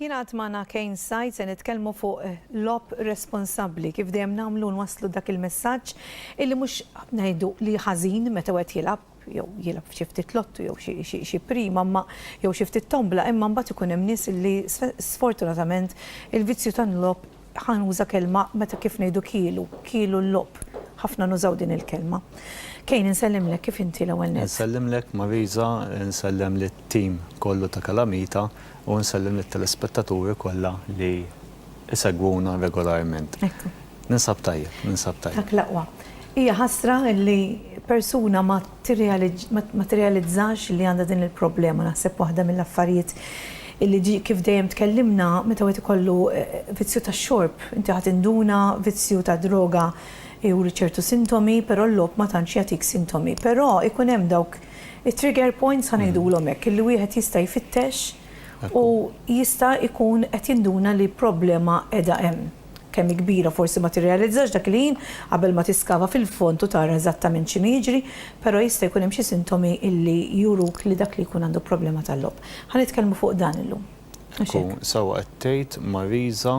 Jina għatmana kejn sajt se nitkellmu fuq eh, lop responsabli kif dejjem namlu nwaslu dak il-messaġġ illi mhux ngħidu li ħażin meta wieħed jilab jew jilab xi ftit lottu jew xi prima ma jew xi ftit tombla imma mbagħad ikun hemm nies li sfortunatament il-vizzju tan-lob Ħa nuża kelma meta kif ngħidu kielu, kielu l-logħob. Ħafna nużaw din il-kelma. Kane insellimlek, kif inti l-ewwel nett? Insellimlek Marisa, insellem lit-team kollu ta' Kalamita u nsellem lit-telespettaturi kollha li jsegwuna regolarment. Ninsab tajjeb, ninsab tajjeb. Dak l-aqwa. Hija ħasra li persuna ma ma tirrealizzax li għandha din il-problema. Naħseb waħda mill-affarijiet illi ġie kif dejjem tkellimna, meta wieħed ikollu vizzju tax-xorb, inti ħa tinduna vizzju tad-droga juri ċertu sintomi, però l-logħob ma tantx jagħtik sintomi. Però jkun hemm dawk it-trigger points, ħa ngħidulhom hekk, illi wieħed jista' jfittex u jista' jkun qed jinduna li problema qiegħda hemm. kemm hi kbira forsi ma tirrealizzax dak li hi qabel ma tiskava fil-fond u tara eżattament x'inhu jiġri, però jista' jkun hemm xi sintomi li juruk li dak li jkun għandu problema tal-logħob. Ħa nitkellmu fuq dan illum. Mhux hekk? Sewwa qed tgħid Marisa,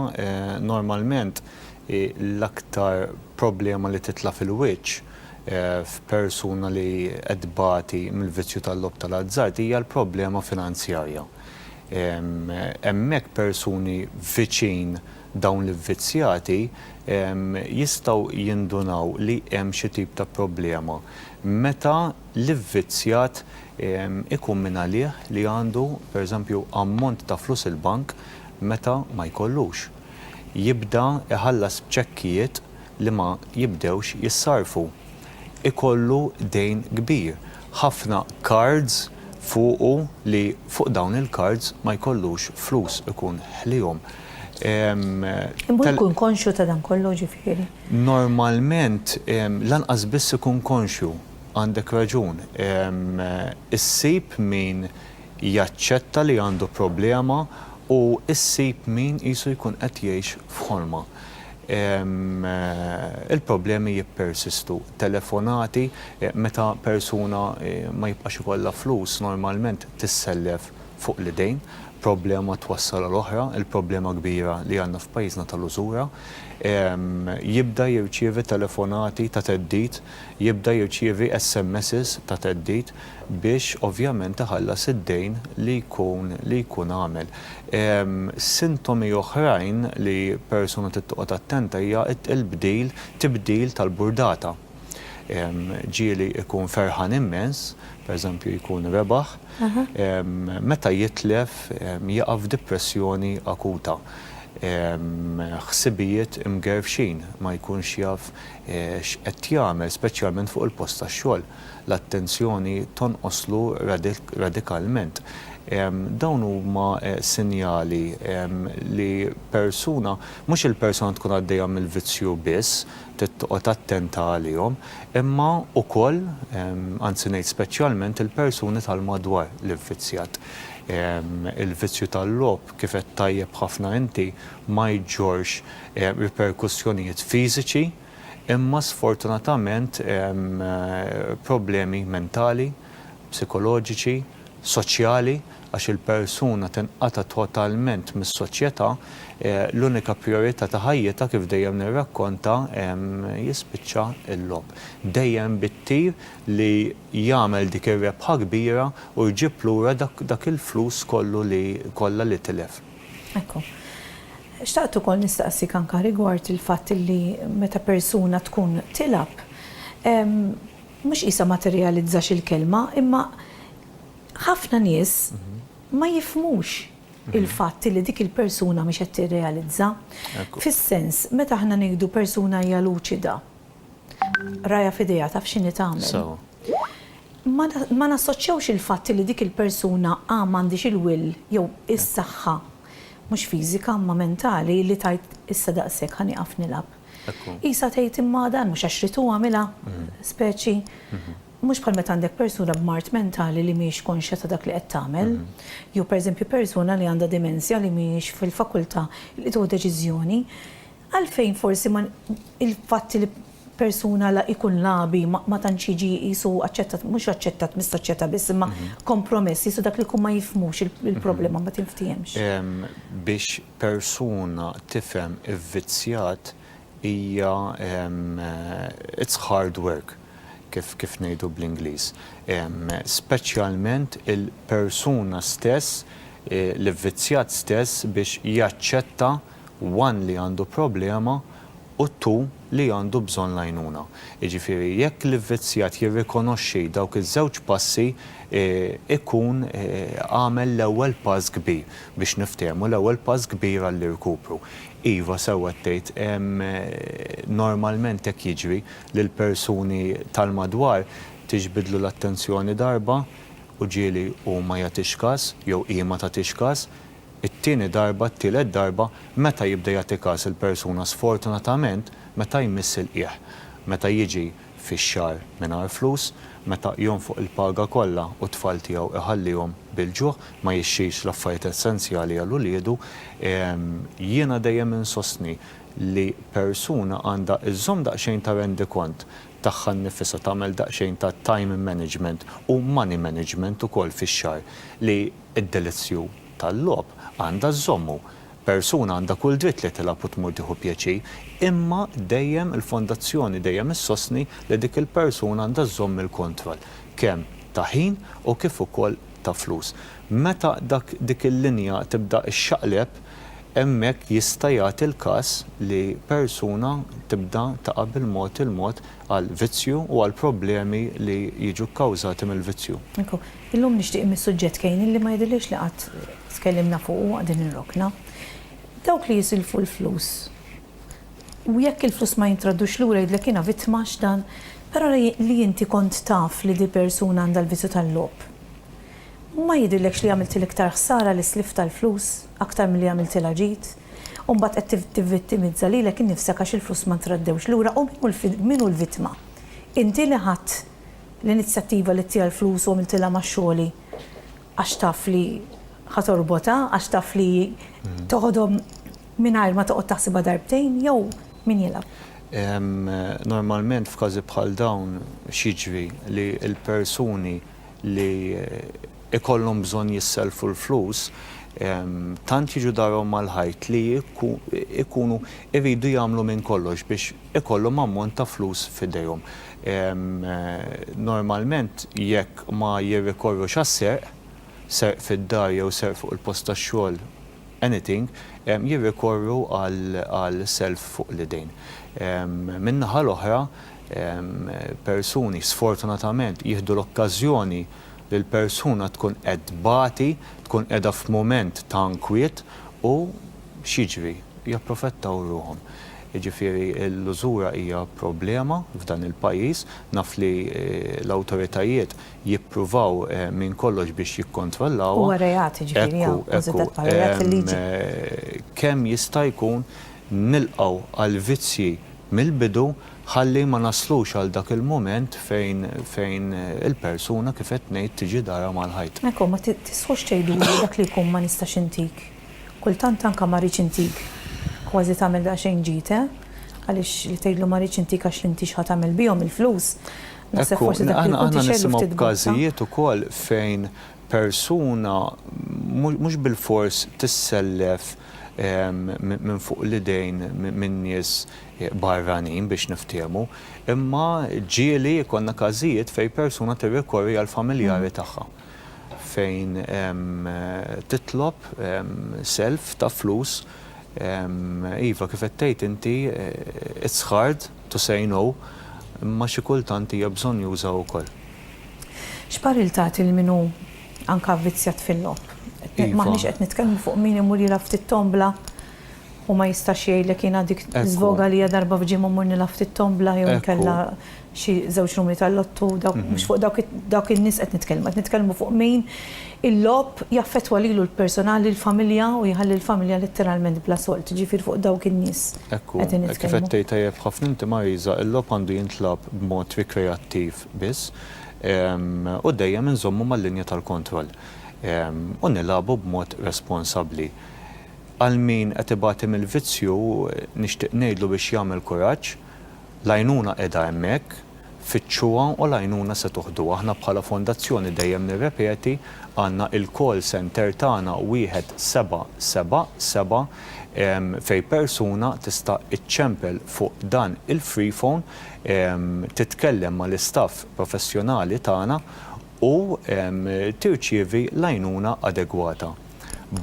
normalment hi l-aktar problema li titla' fil-wiċċ f'persuna li qed tbati mill-vizzju tal-logħob tal-azzard hija l-problema finanzjarja. hemmhekk persuni viċin dawn l-ivvizzjati jistgħu jindunaw li hemm xi tip ta' problema meta l-ivvizzjat ikun minn għalih li għandu, pereżempju, ammont ta' flus il-bank meta ma jkollux. Jibda jħallas b'ċekkijiet li ma jibdewx jissarrfu. ikollu dejn kbir, ħafna cards fuqu li fuq dawn il-cards ma jkollux flus ikun ħliehom. Imur ikun konxju ta' dan kollu ġifieri? Normalment lanqas biss ikun konxju, għandek raġun. Issib min jaċċetta li għandu problema u ssib min qisu jkun qed jgħix f'ħolma. il-problemi jippersistu. Telefonati, meta persuna ma jibqax ikollha flus normalment tissellef fuq l-idejn, problema twassal għal oħra, il-problema kbira li għandna f'pajjiżna tal-użura. Jibda jirċievi telefonati ta' theddid, jibda jirċievi SMSs ta' theddid. biex ovvjament iħallas id-dejn li jkun li jkun għamel. Sintomi oħrajn li persuna trid toqgħod attenta hija il-bdil, tibdil tal-burdata. Ġieli jkun ferħan immens, per eżempju jkun rebaħ, meta jitlef jaqa' f'dipressjoni akuta. Ħsibijiet imgerfxin, ma jkunx jaf x'qed jagħmel, speċjalment fuq il-post tax-xogħol. l-attenzjoni tonqoslu radikalment. Dawn huma sinjali li persuna, mhux il-persuna tkun għaddejja mill-vizzju biss, trid toqgħod attenta għalihom, imma wkoll, anzi ngħid speċjalment, il-persuni tal-madwar li vvizzjat. Il-vizzju tal-logħob, kif għedt tajjeb ħafna inti, ma jġorrx riperkussjonijiet fiżiċi, Imma sfortunatament hemm problemi mentali, psikoloġiċi, soċjali, għax il-persuna tinqata' totalment mis-soċjetà, l-unika prijorità ta' ħajjitha kif dejjem nirrakkonta jispiċċa l-logħob. Dejjem bit-tir li jagħmel dik ir-rebħa kbira u jġib lura dak il-flus kollu li kollha li tilef. Ekku. Xtaqt ukoll nistaqsik anka rigward il-fatt illi meta persuna tkun tilgħab, mhux qisha ma tirrealizzax il-kelma, imma ħafna nies ma jifhmux il-fatt illi dik il-persuna mhix qed tirrealizza. Fis-sens, meta aħna ngħidu persuna hija luċida, rajha f'idejha taf x'inhi tagħmel. Ma nassoċjawx il-fatt li dik il-persuna A m'għandhiex il-will jew is-saħħa, mhux fiżika imma mentali, li tgħid issa daqshekk ħa nieqaf nilgħab. Qisha tgħid imma dan mhux għax ridtu għamilha, speċi. Mhux bħal meta għandek persuna b'mard mentali li mhijiex konxja ta' dak li qed tagħmel. Jew pereżempju persuna li għandha dimensja li mhijiex fil-fakultà li tieħu deċiżjoni. Għalfejn forsi ma il-fatt li persuna la jkun lagħbi ma tantx jiġi qisu aċċettat, mhux aċċettat mis-soċjetà biss, imma kompromess, qisu dak li jkun ma jifhmux il-problema ma tinftiehemx? Biex persuna tifhem ivvizzjat hija it's hard work kif kif ngħidu bl-Ingliż. Speċjalment il-persuna stess, l-ivvizzjat stess biex jaċċetta one li għandu problema u two li għandu bżonn l-għajnuna. Jiġifieri jekk l-ivvizzjat jirrikonoxxi dawk iż-żewġ passi jkun għamel l-ewwel pass kbir biex niftehmu, l-ewwel pass kbir għall-irkupru. Iva, sewwa qed tgħid, normalment hekk jiġri li l-persuni tal-madwar tiġbidlu l-attenzjoni darba u ġieli hu ma jagħtix każ jew hi ma tagħtix każ, it-tieni darba, t-tielet darba, meta jibda jagħti każ il-persuna sfortunatament meta jmiss il-qiegħ, meta jiġi fix-xahar mingħajr flus, meta jonfoq il-paga kollha u t-tfal tiegħu iħallihom bil-ġuħ, ma jixtrix l-affarijiet essenzjali għal uliedu. Jiena dejjem insostni li persuna għandha żżomm daqsxejn ta' rendikont tagħha nnifisha, tagħmel daqsxejn ta' time management u money management ukoll fix-xahar li Id-delizzju tal-logħob għandha żżommu. Persuna għandha kull dritt li tilgħab u tmur tieħu pjaċir, imma dejjem il-Fondazzjoni dejjem issostni li dik il-persuna għandha żżomm il-kontroll, kemm ta' ħin u kif ukoll ta' flus. Meta dak dik il-linja tibda xxaqleb, hemmhekk jista' jagħti l-każ li persuna tibda taqa' bil-mod il-mod għal vizzju u għal problemi li jiġu kkawżati mill-vizzju. Ekku, illum nixtieq inmiss suġġett Kane illi ma jidhirlix li qatt tkellimna fuqu u qegħdin nirrokna. Dawk li jisilfu l-flus u jekk il-flus ma jintraddux lura jgħidlek jiena vittma għax dan, però li inti kont taf li dil-persuna għandha l-vizzju tal-logħob, ma jidhirlekx li għamiltilha iktar ħsara li sliftha l-flus aktar milli għamiltilha ġid? U mbagħad qed tivvittimizza lilek innifsek għax il-flus ma ntraddewx lura u min hu l-vittma? Inti li ħadt l-inizjattiva li ttieha l-flus u għamiltilha ma' xogħli għax taf li ħa torbotha, għax taf li toħodhom mingħajr ma toqgħod taħsibha darbtejn jew min jilgħab? Normalment f'każi bħal dawn x'jiġri li l-persuni li ikollhom bżonn jissellfu l-flus tant jiġu darhom mal-ħajt li jkunu jridu jagħmlu minn kollox biex ikollhom ammont ta' flus f'idejhom. Normalment jekk ma jirrikorrux għas-serq, serq fid-dar jew serq fuq il-post tax-xogħol, anything, jirrikorru għal self fuq l-idejn. Min-naħa l-oħra, persuni sfortunatament jieħdu l-okkażjoni li l-persuna tkun qed tbati, tkun qiegħda f'mument ta' nkwiet u x'jiġri? Japprofettaw ruħhom. Jiġifieri l-użura hija problema f'dan il-pajjiż. Naf li l-awtoritajiet jippruvaw minn kollox biex jikkontrollawha. Huwa reat, jiġifieri, hawn kkunsidrat bħala reat fil-liġi. Kemm jista' jkun nilqgħu għall-vizzji mill-bidu ħalli ma naslux għal dak il-mument fejn il-persuna, kif qed ngħid, tiġi darha mal-ħajt. Hekk hu, ma tisħux tgħiduli dak li jkun ma nistax intik, kultant anke ma rridx intik, kważi tagħmel daqsxejn ġid, eh? Għaliex li tgħidlu ma rridx intik għax l-intix ħa tagħmel bihom il-flus, Naħseb forsi dak li kont ixegħlu ftit. Aħna nisimgħu b'każijiet ukoll fejn persuna mhux bilfors tissellef minn fuq l-idejn minn nies barranin biex niftiehmu, imma ġieli jkollna każijiet fejn persuna tirrikorri għall-familjari tagħha fejn titlob self ta' flus, iva kif qed tgħid inti it's hard, to say no, imma xi kultant hija bżonnjuża wkoll. X'parir tagħti lil min hu anke avvizzjat fil-logħob? M'aħniex qed nitkellmu fuq min imur jilgħab ftit tombla u ma jistax jgħidlek jiena dik żvoga li hija darba f'ġimgħa mmur nilgħab ftit tombla jew inkella xi żewġ numri tal-lotto, mhux fuq dawk in-nies qed nitkellmu, qed nitkellmu fuq min Il-logħob jaffettwa lilu l-persunal, lill-familja u jħalli l-familja letteralment bla solt, jiġifieri fuq dawk in-nies qegħdin nitkellmu. Hekk kif qed tgħid tajjeb ħafna inti Marisa, il-logħob għandu jintlagħab b'mod rikreattiv biss u dejjem inżommu mal-linja tal-kontroll u nilagħbu b'mod responsabbli. Għal min qed ibati mill-vizzju nixtieq ngħidlu biex jagħmel kuraġġ, l-għajnuna qiegħda hemmhekk. Fittxuha u l-għajnuna se tuħdu. Aħna bħala Fondazzjoni dejjem nirrepeti, għandna il-call center tagħna wieħed seba' seba' seba' fejn persuna tista' iċċempel fuq dan il-free phone, titkellem mal-istaff professjonali tagħna u tirċievi l-għajnuna adegwata.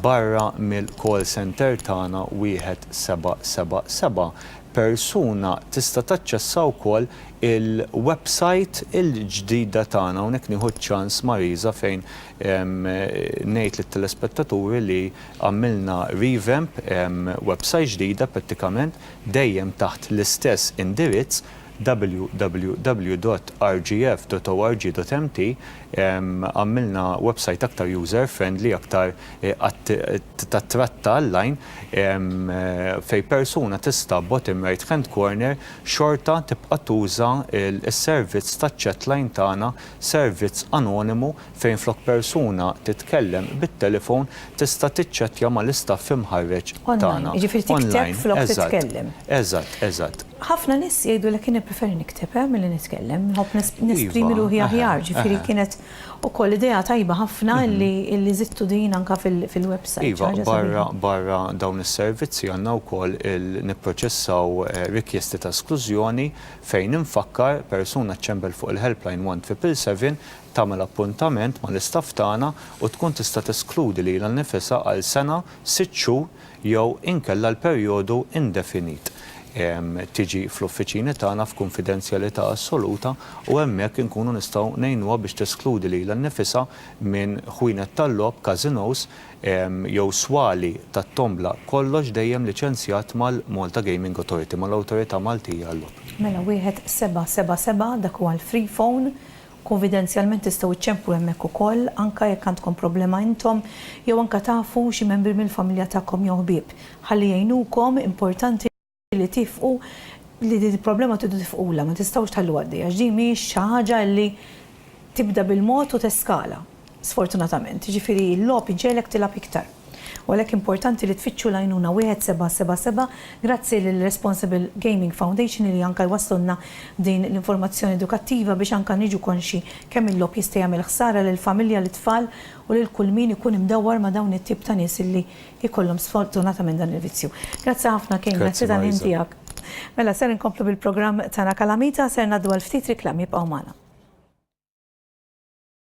barra mill-call centre tagħna 1777, persuna tista' taċċessa wkoll il-website il-ġdida tagħna. Hawnhekk nieħu ċ-ċans Marisa fejn ngħid lit-telespettaturi li għamilna revamp, website ġdida prattikament, dejjem taħt l-istess indirizz, www.rgf.org.mt Għamilna websajt aktar user friendly aktar tat-tratt ta' online fejn persuna tista' bottom right hand corner xorta tibqa' tuża s-servizz taċ-chatline tagħna servizz anonimu fejn flok persuna titkellem bit-telefon tista' tiċċettja mal-istaff imħarreġ tagħna. Online, jiġifieri tikteb flok titkellem. Eżatt, eżatt. Ħafna nies jgħidulek jien nippreferi nikteb milli nitkellem, nħobb nesprimi ruħi aħjar, ġifieri kienet ukoll idea tajba ħafna li żidtu din anke fil-website. Iva, barra barra dawn is-servizzi għandna wkoll nipproċessaw rikjesti ta' esklużjoni fejn infakkar persuna ċċembel fuq il-helpline 1 triple seven tagħmel appuntament mal-istaff tagħna u tkun tista' teskludi lilha nnifisha għal sena, sitt xhur jew inkella għal perjodu indefinit. Tiġi fl-uffiċini tagħna f'kunfidenzjalità assoluta u hemmhekk inkunu nistgħu ngħinuha biex teskludi lilha nnifisha minn ħwienet tal-logħob, casinos, jew swali tat-tombla, kollox dejjem liċenzjat mal-Malta Gaming Authority, mal-Awtorità Maltija għal-Logħob. Mela wieħed seba' seba' seba' dak huwa l-free phone Kunfidenzjalment tistgħu ċċemplu hemmhekk ukoll, anke jekk għandkom problema intom jew anke tafu xi membri mill-familja tagħkom jew ħbieb, ħalli jgħinukom, importanti li tifqu li din il-problema tridu tifqulha, ma tistgħux tħalluha għaddejja għax din mhijiex xi ħaġa li tibda bil-mod u teskala. sfortunatament, jiġifieri l-logħob iġegħlek tilgħab iktar. U għalhekk importanti li tfittxu l-għajnuna 1777 grazzi lill-Responsible Gaming Foundation li anke jwasslulna din l-informazzjoni edukattiva biex anke niġu konxji kemm il-logħob jista' jagħmel ħsara lill-familja, lit-tfal u lil kull min ikun imdawwar ma' dawn it-tip ta' nies li jkollhom sfortunatament dan il-vizzju. Grazzi ħafna Kane, grazzi tal-ħin tiegħek. Mela ser inkomplu bil-programm tagħna Kalamita, ser ngħaddu għal ftit riklami, ibqgħu magħna.